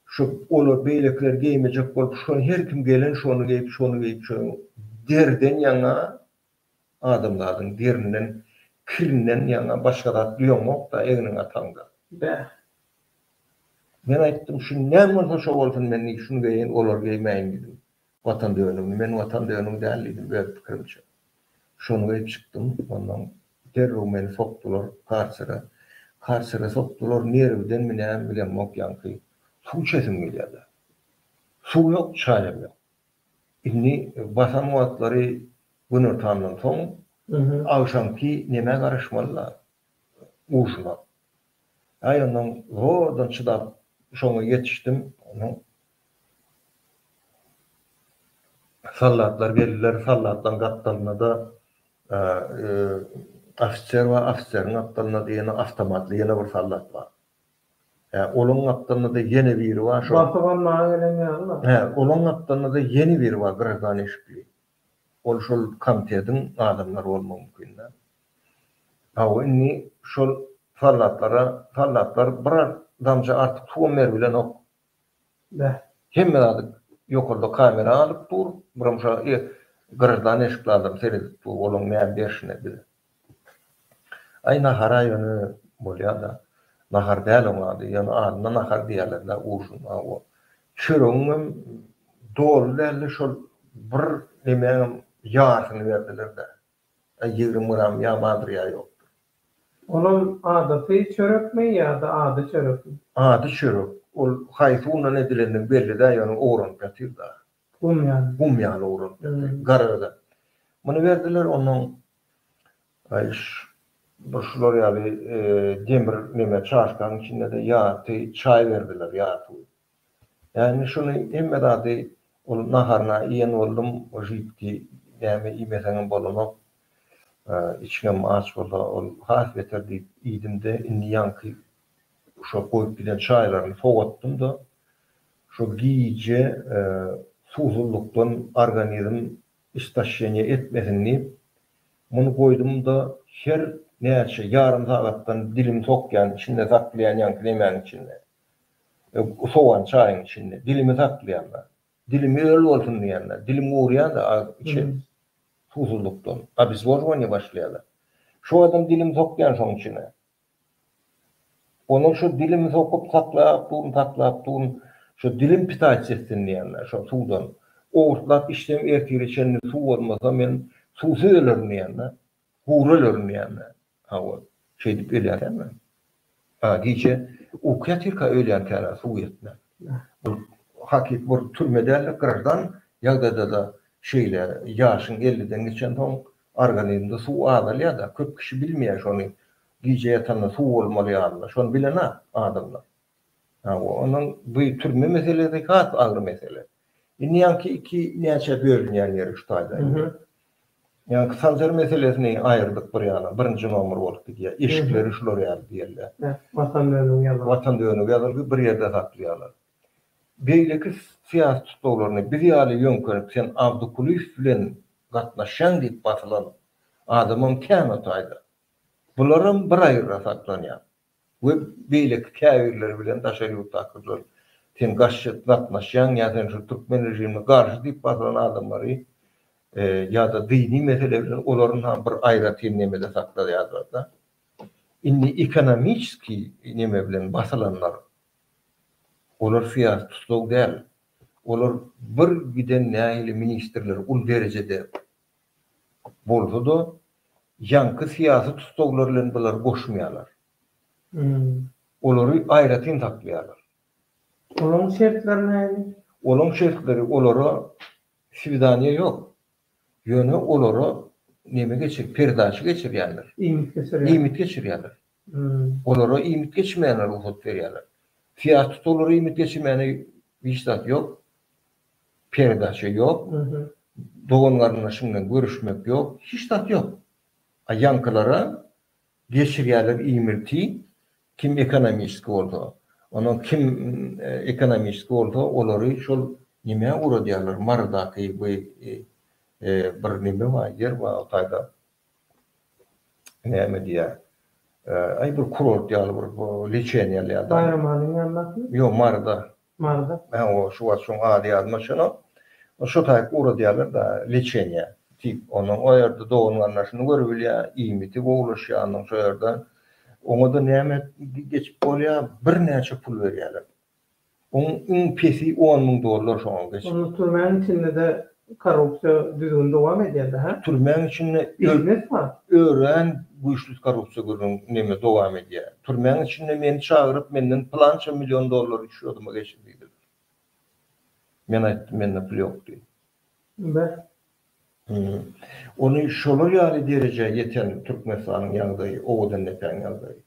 Şu olar beýlekiler geýmejek bolup şony her kim gelen şony geýip şony geýip şoň derden ýaňa adamzadyň derinden kirinden ýaňa başga zat duýaňokda egniň ataňda. Bäh. Men aýtdym şu näme bolsa şo bolsun men şuny geýen olar geýmäýin diýdim. Watan dönügini men Watan dönügi däl diýdim öz pikirimçe. Şony geýip çykdym. Onnoň derrew meni sokdular karçere. Karçere sokdular, nerwdenmi nämi bilemok ýaňky suw içesim gelýärdi. Suw ýok, çaýam ýok. Indi basan wagtlary günortandan soň agşamky nemä garaşmaly-la, ujina. Aý ondan zordan çydap şoňa ýetişdim. Onuň Soldatlary geldiler, soldatlaryň gapdalynada ofiser bar, ofiseriň gapdalynada ýene awtomatly ýene bir soldat bar. Hä, olaň gapdalynada ýene biri bar, şo. Basyp almaga gelen ýalylar. Hä, olaň gapdalynada ýene biri bar, grazdan eşikli. Ol şol komitediň adamlary bolmagy mümkinde. Hawa indi şol soldatlara soldatlar bir damja artyk suwam berbilenok. Bäh. Hemme zady ýokarda kamera alyp dur, biram şa e graždan eşikli adam seredip dur olaň näme berşine bize. Aý nahar-a ýöne bolýa-da. Nahar däl oň ady, ýöne adyna nahar diýýärler-dä ujin hawa. Çöregiňem doly däldi, şol bir nemäňem ýarysyny berdiler-dä. Aý ýigrimi gram ýa bardyr ýa ýokdur. Olam adaty çörekmi ýa-da ady çörekmi? Ady çörek. Ol haýsy undan edilendigi belli däl, ýöne ogranyp ýatyr-da. Gum ýaly. Gum ýaly owrap berdiler. Garagada. Muny berdiler, onnoň bir şular ýaly demir neme çaşkanyň içinde-de ýarty çaý berdiler, ýarty. Ýa indi şuny hemme zady ol naharyny iýen boldum, o žübki näme iýmeseňem bolanok. Içiňem aç bolsa ol has beter diýip iýdim-de, indi ýaňky şo goýup giden çaýlaryny sowatdym-da, Şol gije suwsuzlykdan organizm istoşeniýe etmesin diýip, muny goýdum-da, her näçe ýarym sagatdan dilimi sokýan, içinde saklaýan ýaňky nemäniň içinde, sowan çaýyň içinde dilimi saklaýan-da, dilim öl bolsun diýen-de, dilim gurýan-da, içi suwsuzlykdan, obezwozowaniýe başlaýar-da. Şu wagtam dilimi sokýan şoň içine. Onuň şu dilimi sokup saklap durun, saklap durun, şu dilim pitayçy etsin diýenler, şo suwdan owurtlap içsem ertire çenli suw bolmasa men suwsuz ölerin diýenler, gury ölerin diýenler. Ha ol şeýdip ölýär emme. A gije uky ýatyrka ölýänkära suw ýetmän. Bu hakyky bir türme däl-de, graždan ýagdaýda-da şeýle ýaşyň elliden geçensoň Organizmde suw azalýar-da, köp kişi bilmeýär şony. Gije ýatanda suw bolmaly ýalylar. Şony bilen-ä adamlar. Hawa, onuň bu türme meselesi has agyr mesele. Indi ýaňky iki näçä bölünýän ýeri şu taýda indi. Ýaňky sanjar meselesini aýyrdyk bir ýana, birinji nomer bolup gidýär. Eşikleri şular ýaly diýerler. Watan dönügi ýazylgy bir ýerde saklaýarlar. Beýleki syýasy tutlaglaryna biz ýaly ýöňkenip sen Awdukulyýew bilen gatnaşýaň diýip basylan adamam kän o taýda. Bularam bir aýra saklanýar we beýleki käbirleri bilen daşary ýurtdakylar sen gaşşet gatnaşýaň ýa sen şu türkmen režimine garşy diýip basylan adamlary ýa-da dyny mesele bilen olaryn ha bir aýratyn nemede sakladýarlar-da. Indi ekonomiçeskiý neme bilen basylanlar Olar syýasy tussag däl. Olar bir giden nähili ministrler ul derejede bolsa-da, ýaňky syýasy tussaglar bilen bulary goşmaýarlar. Olary aýratyn saklaýarlar. Olaň şertleri nähili? Olaň şertleri, olara swidaniýa ýok. Ýöne olara neme geçir, perdaça geçirýärler. Iýmit geçirýärler. Iýmit geçirýärler. Olara iýmit geçirmäne rugsat berýärler. Syýasy tussaglara iýmit geçirmäne hiç zat ýok. Peredaça ýok. Dogan-garyndaşyň bilen görüşmek ýok. Hiç zat ýok. A ýaňkylara geçirýärler iýmiti. Kim ekonomiski bolsa. Ondan kim ekonomiski bolsa, olary şol nämä ugradýarlar, Marydaky bir neme bar, ýer bar o taýda. Näme diýýär? Aý bir kurort ýaly bir leçeniýa alýar-da. Baýramalyň ýanyndaky? Ýok, Maryda. Maryda? Hä, o şu wagt şoň ady ýadyma çenok. Şo taýyp ugradýarlar-da leçeniýa. Tip, onuň o ýerde dogan-garyndaşyny görübilýär, iýmiti gowulaşýar onuň şo ýerde. Oňa-da näme geçip bolýar, birnäçe pul berýärler. Oň iň pesi on müň dollar şoňa geç. Onda türmäň içindede korrupsiýa düzgün dowam edýärdi hä? Türmäň içinde Biznes bar. örän güýçli korrupsiýa gürrüň neme dowam edýär. Türmäň içinde meni çagyryp menden pylança million dollary şýodyma geçir diýdiler. Men aýtdym mende pul ýok diýip. Be. Hümm. Ony şolar ýaly derejä ýeten Türkmenistanyň ýagdaýy, Owadandepäň ýagdaýy.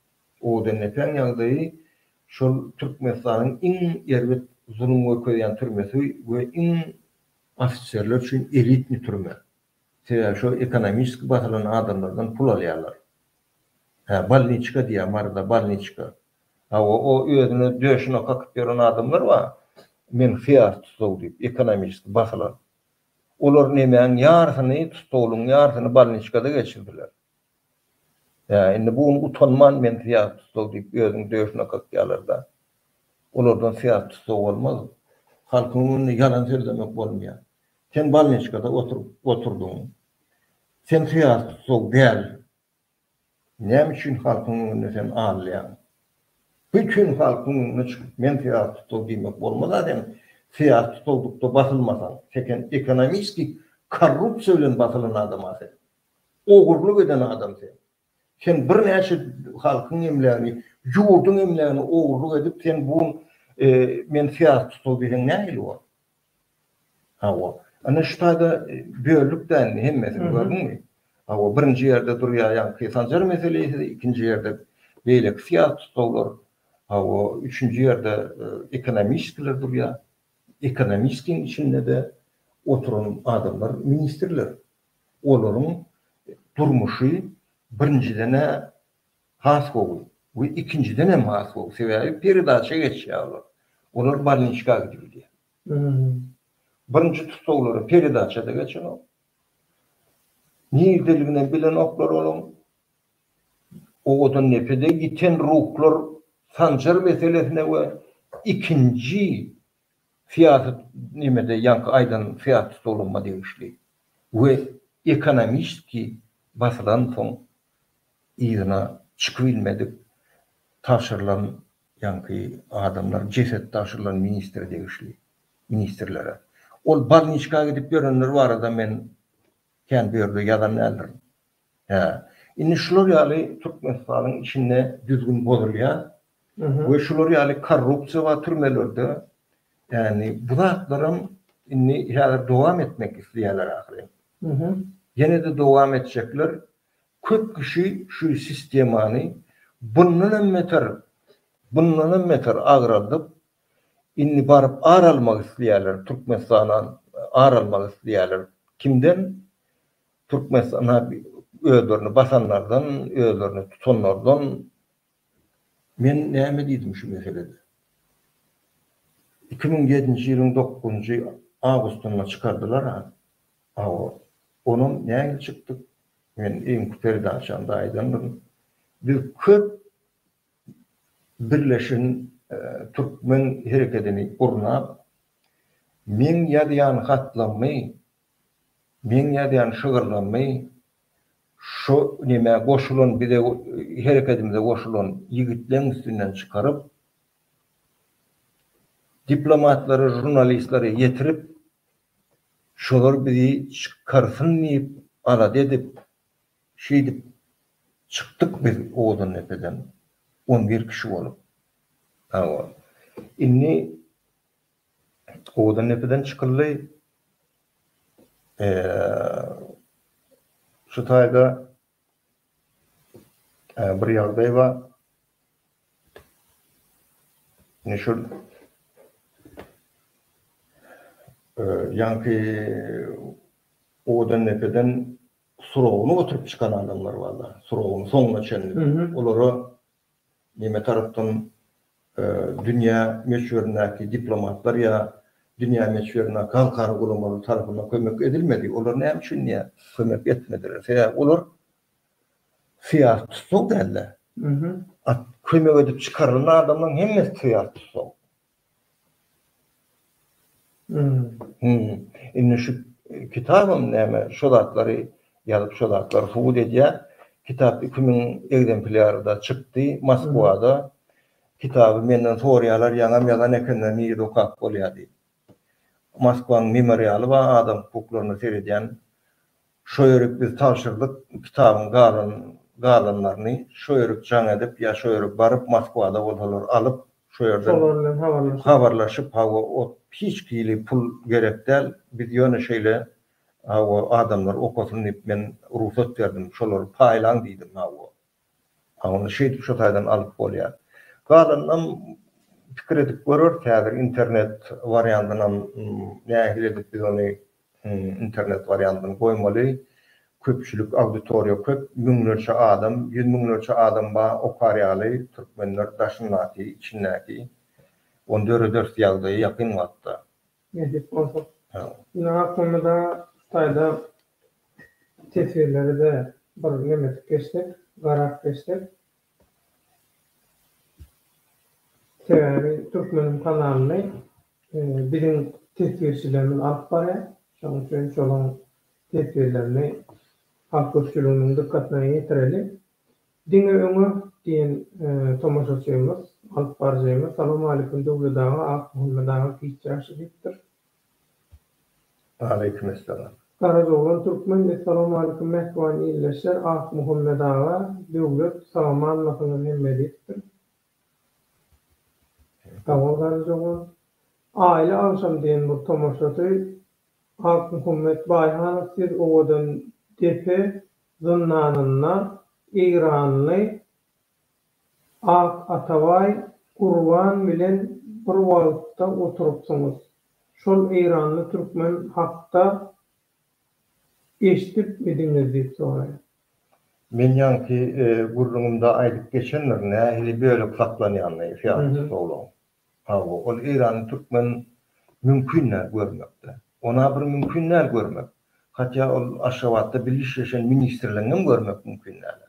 Odenlepeň ýagdaýy şol Türkmenistanyň iň erbet zulum görkezýän türmesi we iň ofiserler üçin elitni türme. Sebäbi şo ekonomiski basylan adamlardan pul alýarlar. Hä, bolniçka diýýär Maryda, bolniçka. Hawa, o özüne döşüne kakyp ýören adamlar bar, men syýasy tussag diýip, ekonomiski basylan. Olar nemäň ýarysyny tussaglygyň ýarysyny bolniçkada geçirdiler. Hä, indi bu gün utanman men syýasy tussag diýip özüniň döşüne kakýarlar-da. Olardan syýasy tussag bolmaz. Halkyň öňünde ýalan sözlemek bolmaýar. Sen bolniçkada oturyp oturdyň. Sen syýasy tussag däl. Näme üçin halkyň öňünde sen alýaň? Bütin halkyň öňüne çykyp men syýasy tussag diýmek bolmaz-a sen syýasy tussaglykda basylmasaň. Seken ekonomiski korrupsiýa bilen basylan adam-a sen. Ogurlyk eden adam sen. Sen birnäçe halkyň emlägini, ýurduň emlägini ogurlyk edip sen bu gün men syýasy tutal diýseň nähili bor? Hawa. Ine şu taýda böldük dä indi hemmesini gördüňmi? Hawa birinji ýerde durýar ýaňky Sanjar meselesi, ikinji ýerde beýleki syýasy tutlaglar, hawa üçünji ýerde ekonomiskiler durýar. Ekonomiskiň içinde-de oturan adamlar ministrler. Olaryň durmuşy birinjiden-ä has gowy we ikinjiden hem has gowy. Sebäbi peredaça geçýär olar. Olar bolniçka gidip bilýär. Birinji tussaglara peredaça-da geçenok. Nirdeliginem bilenoklar olaň. Owadan depede ýiten ruhlar Sanjar meselesine we ikinji Syýasat nemede ýaňky aýdan syýasy tutulgyma degişli we ekonomistiki basylan soň yzyna çykybilmedik tabşyrylan ýaňky adamlar jeset tabşyrylan ministre degişli ministrlere. Ol balniçka gidip ýörenler barada men kän bu ýerde ýazan däldirin. Hä. Indi şular ýaly Türkmenistanyň içinde düzgün bozulýar. we şular ýaly korrupsiýa bar türmelerde, ýagny bu zatlaram indi häzir dowam etmek isleýärler ahyryn. Ýene-de dowam etjekler. Köp kişi şu sistemany bundan hem beter, bundan hem beter agraldyp, indi baryp ar almak isleýärler, Türkmenistana ar almak isleýärler. Kimden? Türkmenistana özlerini basanlardan, özlerini tutanlardan. Men näme diýdim şu meselede? Iki müň ýedinji ýylyň dokuzynjy awgustynda çykardylar-a, hawa, onam nähili çykdyk? Men öňki peredaçamda aýdandyryn, biz köp birleşen türkmen herekedini gurnap, meň ýazýan hatlammy Meň ýazýan şygyrlarymy şo nämä goşulan bize herekedimize goşulan ýigitleň üstünden çykaryp diplomatlara žurnalistlere ýetirip şolar bizi çykarsyn diýip alada edip şeýdip çykdyk biz Owazandepeden on bir kişi bolup. Hawa. Indi Owadan depeden çykyldy. Şu taýda bir ýagdaý bar. Ine şol ýaňky Owadan depeden suragyny oturyp çykan adamlar bar-da, suragyny soňuna çenli. Olara Neme tarapdan dünýä möçberindäki diplomatlar ýa dünýä möçberindäki halkara guramalar tarapyndan kömek edilmedi? Olar näme üçin dünýä kömek etmediler? Sebäbi olar syýasy tussag däldi. Kömek edip çykarylan adamlaryň hemmesi syýasy tussag. Hum. Indi şu kitabam näme şo zatlary ýazyp şo zatlary subut edýä. Kitap iki müň egzemplýarda çykdy Moskwada. Kitaby menden sorýalar ýaňam ýazan ekenler nirede okap bolýa diýip. Moskwaň memorialy bar adam hukuklaryna seredýän Şo ýörük biz tabşyrdyk kitabyň galan galanlaryny şo ýörük jaň edip ýa şo ýörük baryp Moskwada bolsalar alyp şo ýerden Şolar bilen habarlaşyp. habarlaşyp hawa ot hiç hili pul gerek däl biz ýöne şeýle hawa adamlar okasyn diýip men rugsat berdim şolary paýlaň diýdim hawa Ony şeýdip şu taýdan alyp bolýar. Galanynam pikir edip göreris häzir internet wariantynam nähili edip biz ony internet wariantyny goýmaly. Köpçülik auditoriýa köp müňlerçe adam, ýüz müňlerçe adam bar okar ýaly türkmenler daşyndaky, içindäki. Ony dörederis ýagdaýy ýakyn wagtda. Nesip bolsa. Ine aklymyza taýda teswirleri-de bir nemedip geçsek, garap geçsek. Sebäbi Türkmeniň kanalyny biziň teswirçilerimiz alyp barýar. Şonuň üçin şolaň teswirlerini halk köpçüliginiň dykgatyna ýetireli. Diňe öňe! diýen tomaşaçymyz, alyp baryjymyz, Salowmaleýkim Döwlet aga, Akmuhammet aga giç ýaşy diýipdir. Aleýkim essalam. Garajoglan Türkmen, Essalowmaleýkim mähriban ildeşler, Akmuhammet aga, Döwlet, salamanmysyňyz hemme diýipdir. Sag bol Garajoglan. Aýly agşam diýen bir tomaşaçy, Akmuhammet Baýhanow siz owadan depe, zyndanynda eýranly Ak Atabaý Gurban bilen bir wagtda oturypsyňyz. Şol eýranly türkmen hakda eşidipmidiňiz diýip soraýar. Men ýaňky gürrüňimde aýdyp geçendirin nähili bölek saklanýanyny syýasy tussaglaryň. Hawa, ol Eýrany türkmen mümkin däl görmekde. Ona bir mümkin däl görmek. Hatýa ol Aşgabatda birlişleşen ministrligiňem görmek mümkin däl.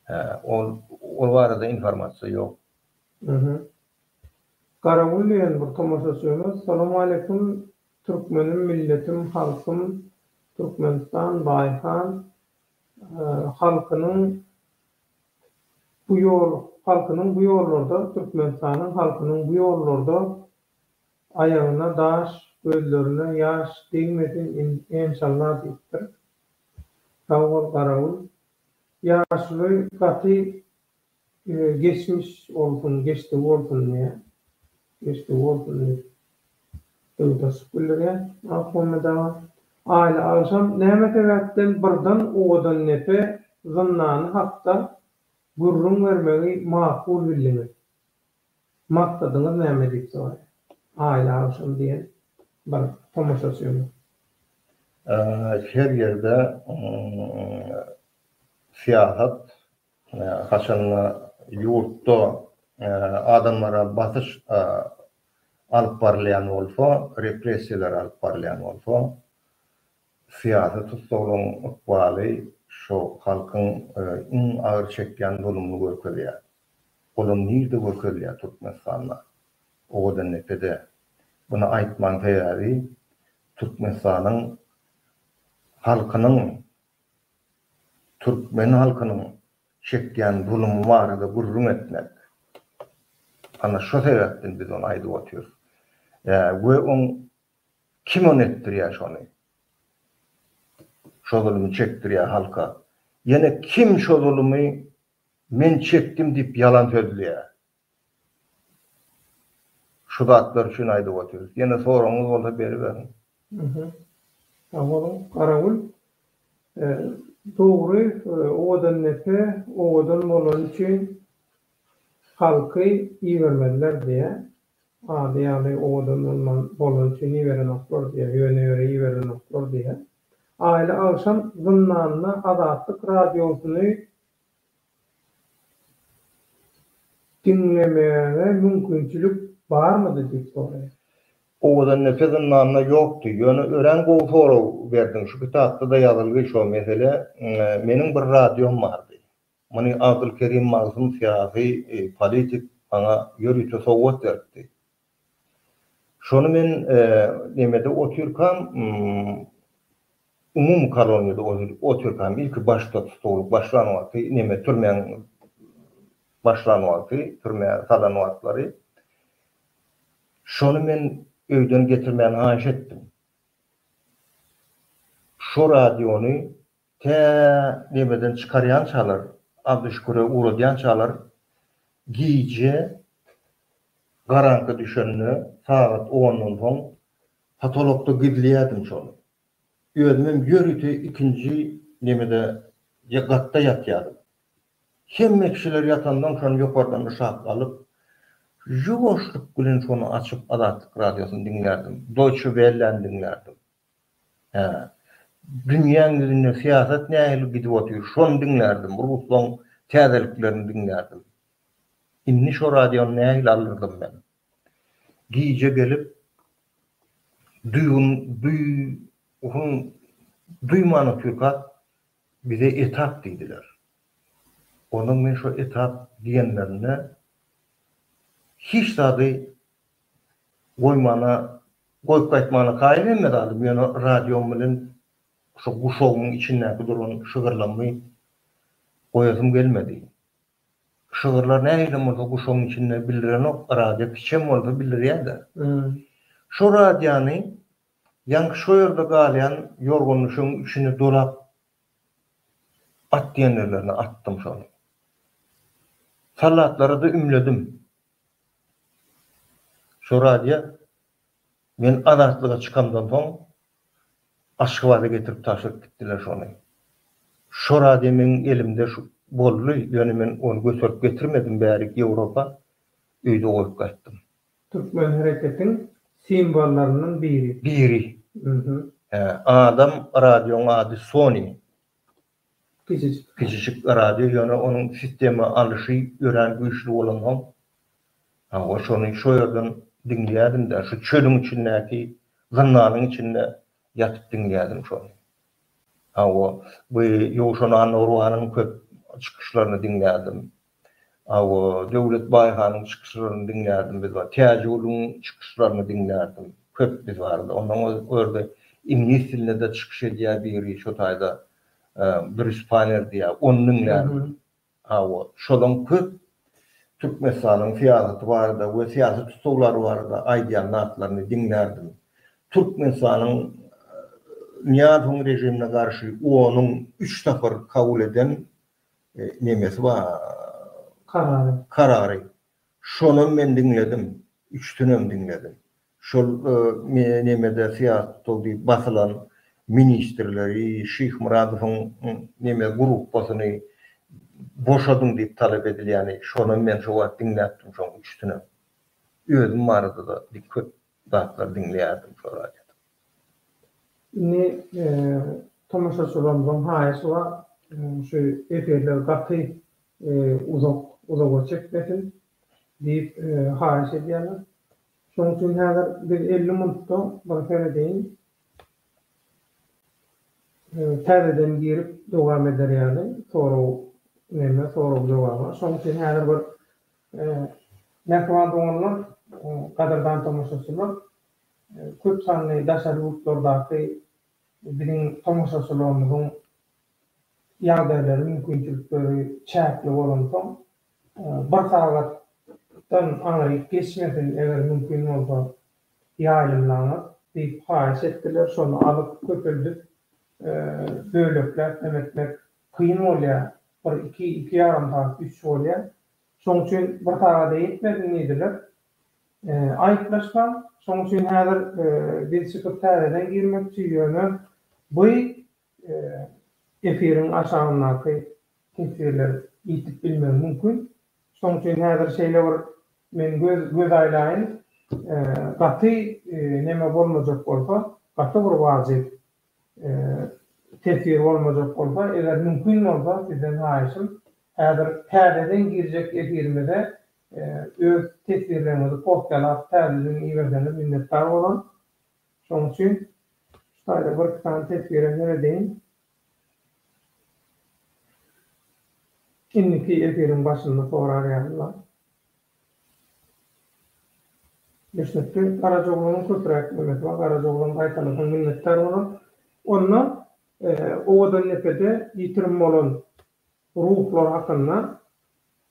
Hä, ol ol barada informasiýa ýok. Mhmm. Garagül diýen bir tomaşaçymyz, Salawmaleýkum Türkmenim milletim halkym Türkmenistan Baýhan halkynyň Bu ýol halkynyň bu ýollarda Türkmenistanyň halkynyň bu ýollarda aýagyna daş, gözlerine ýaş degmesin enşalla diýipdir. Sag bol Garagül. Ýaşuly gaty geçmiş bolsun, geçdigi bolsun diýýä. Keşde bolsun diýip, döwdaşlyk bildirýär Mahommedowa. Aýly agşam näme sebäpden birden owadan nepe zyndany hakda gürrüň bermegi makul bildiňiz? Maksadyňyz näme? diýip soraýar Aýly agşam diýen bir tomaşaçymyz. Her ýerde syýasat Haçanda ýurtda adamlara basyş alyp barylýan bolsa, repressiýalar alyp barylýan bolsa, syýasy tussaglaryň ykbaly şu halkyň iň agyr çekýän zulumyny görkezýär. Olam nirde görkezilýär Türkmenistanda? Owadandepede. Muny aýtmagyň sebäbi Türkmenistanyň halkynyň Türkmen halkynyň çekýän zulum barada gürrüň etmek. Ana şo sebäpden biz ony aýdyp otyrys. Ýa we oň kim ony etdirýä şony? Şo zulumy çekdirýä halka. Ýene kim şo zulumy men çekdim diýip ýalan sözleýä. Şu zatlar üçin aýdyp otyrys. Ýene soragyňyz bolsa beriberiň. Aha. Sag boluň. Garawul. Dogry, Owadandepe owadan bolany üçin halky ibermediler diýýär. Ady ýaly owadan bolman bolany üçin iberenoklar diýýär. Ýöne ýöre iberenoklar diýýär. Aýly agşam zyndanda Azatlyk radiosyny Diňlemäge mümkinçilik barmydy diýip soraýar. Owadan nepe zyndanda ýokdy. Ýöne örän gowy sorag berdiň. Şu kitapda-da ýazylgy şo mesele. Meniň bir radiom bardy. Muny Abdulkerim Magzum syýasy, politik maňa ýörite sowgat beripdi. Şony men nemede otyrkam, umumy koloniýada otyrkam, ilki başda tutuwlyk başlan wagty, neme, türmäň başlan wagty, türmä salan wagtlary, şony men öýden getirmäni haýyş etdim. Şo radiony Tä nebeden çykarýançalar, Abdyşüküre ugradýançalar gije garaňky düşende, sagat ondan soň potolokda gizleýärdim şony. Özümem ýörite ikinji nemede, gatda ýatýardym. Hemme kişiler ýatandan şony ýokardan yşak alyp, ýuwaşlyk bilen şony açyp Azatlyk Radiosyny diňlärdim, Doýçe Welläni diňlärdim. Hä. Dünýäň ýüzünde syýasat nähili gidip otyr, şony diňlärdim, ruslaň täzeliklerini diňlärdim. Indi şo radiony nähili alyrdym men? Gije gelip, duýgyn, duýgyn, duýman otyrkak, bize etap diýdiler. Ondan men şo etap diýenlerinde hiç zady Goýmana, goýup gaýtmana kaýyl hemme zadym, ýöne radiom bilen şu guşagymyň içindäki duran şygyrlarymy goýasym gelmedi. Şygyrlar nähilem bolsa guşagyň içinde bildirenok, radio kiçem bolsa bildirýär-de. Şo radiony ýaňky şo ýerde galýan ýorgan-düşegiň içine dolap at diýen ýerlerine atdym şony. Sallatlara-da ümledim. Şo radio men Azatlyga çykamdan soň Aşgabada getirip tabşyryp gitdiler şony. Şo radio meň elimde boldy, ýöne men ony göterip getirmedim bärik Ýewropa, öýde goýup gaýtdym. Türkmen hereketiň simwollaryndan biri. Biri. Hä, adam, radioň ady Sony. Kiçijik radio ýöne onuň sistema alyşy örän güýçli bolansoň hawa şony şo ýerden diňleýädim-de şu çölüň içindäki zyndanyň içinde ýatyp diňleýädim şony. Hawa bu Ýowşan Annagurbanyň köp çykyşlaryny diňleýädim. Hawa, Döwlet Baýhanyň çykyşlaryny diňlärdim biz bar. Täjigulyň çykyşlaryny diňlärdim. Köp biz barada. Ondan görde iňlis dilinde-de çykyş edýär biri şo taýda Brýus Panner diýýär. Ony diňlärdim. Hawa, şolaň köp Türkmenistanyň syýasaty barada we syýasy tutuwlary barada aýdýan zatlaryny diňlärdim. Türkmenistanyň Nyýazowyň režimine garşy onuň üç sapar kabul eden Nemesi bar. Karary. Karary. Şonam men diňledim. Üçüsinem diňledim. Şol nemede syýasatda diýip basylan ministrleri, Şyhmyradowyň neme gruppasyny boşadyň diýip talap edilýäni, şonam men şo wagt diňläpdim şoň üçüsinem. Özüm barada-da köp zatlar diňleýärdim şo radiodan. Indi tomaşaçylarymyzyň haýyşy bar, şu efirler gaty uzak, uzaga çekmesin diýip haýyş edýärler. Şonuň üçin häzir biz elli minutda bir seredeýin täzeden girip dowam eder ýaly sorag neme sorag jogaba. Şonuň üçin häzir bir Mähriban doganlar, gadyrdan tomaşaçylar! Köp sanly daşary ýurtlardaky biziň tomaşaçylarymyzyň ýagdaýlary, mümkinçilikleri çäkli bolansoň, bir sagatdan aňryk geçmesin, eger mümkin bolsa, ýaýlymlaňyz diýip haýyş etdiler. Şony alyp, köpeldip, bölekläp hem etmek kyn bolýar. Bir iki, iki ýarym sagat, üç bolýar. Şoň üçin bir sagada ýetmedin diýdiler. Aýyplaşsam, şoň üçin häzir biz çykyp täzeden girmekçi, ýöne by efiriň aşagyndaky teswirler ýitip bilmegi mümkin. Şoň üçin häzir şeýle bir men göz göz aýlaýyn, gaty neme bolmajak bolsa, gaty bir wajyp tesiri bolmajak bolsa, eger mümkin bolsa sizden haýyşym häzir täzeden girjek efirimize öz teswirleriňizi kopýalap täzeden iberseňiz minnetdar bolaryn. Şoň üçin şu taýda birki sany teswire seredeýin. Indiki efiriň başynda sorar ýalylar. Geçmekde Garajaoglanyň köpräk ýörmesi bar. Garajaoglan gaýtalasaň minnetdar bolar. Onda Owadandepede ýitirim bolan ruhlar hakynda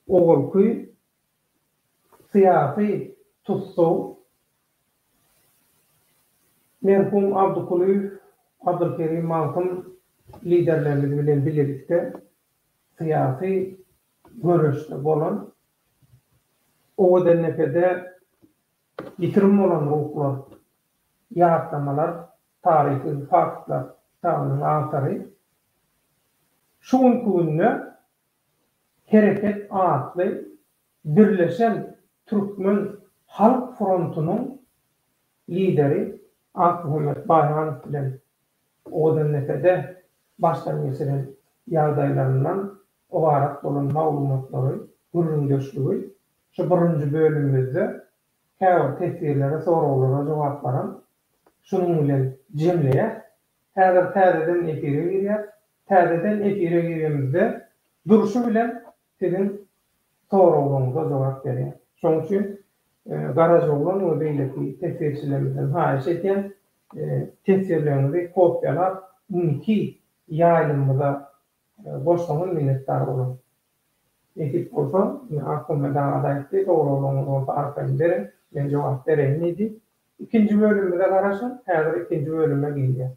owalky syýasy tussag merhum Abdykulyýew, Abdylkerim Magtym liderlerligi bilen bilelikde syýasy göreşde bolan Owadanepede ýitirim bolan ruhlar, ýatlamalar, taryhy faktlar kitabynyň awtory şu günki günde Hereket atly birleşen türkmen halk frontunyň lideri Akmuhammet Baýranow bilen Owadannepede başdan geçiren ýagdaýlaryndan Ybarat bolan maglumatlary, gürrüňdeşligi şu birinji bölümimizde käbir teswirlere, soraglara jogaplaram şunuň bilen jemleýäs. Häzir täzeden efire girýäs. Täzeden efire girenimizde durşy bilen siziň soraglaryňyza jogap berýäs. Şonuň üçin Garajoglan we beýleki teswirçilerimizden haýyş edýän, teswirleriňizi kopiýalap, indiki ýaýlymymyza Bolsaňyz minnetdar boluň. Nesip bolsa, ine Ahunmed aga-da aýtdy, sowraglaryňyz bolsa arkaýyn beriň, men jogap bereýin diýdi. Ikinji bölümimize garaşyň, häzir ikinji bölüme girýäs.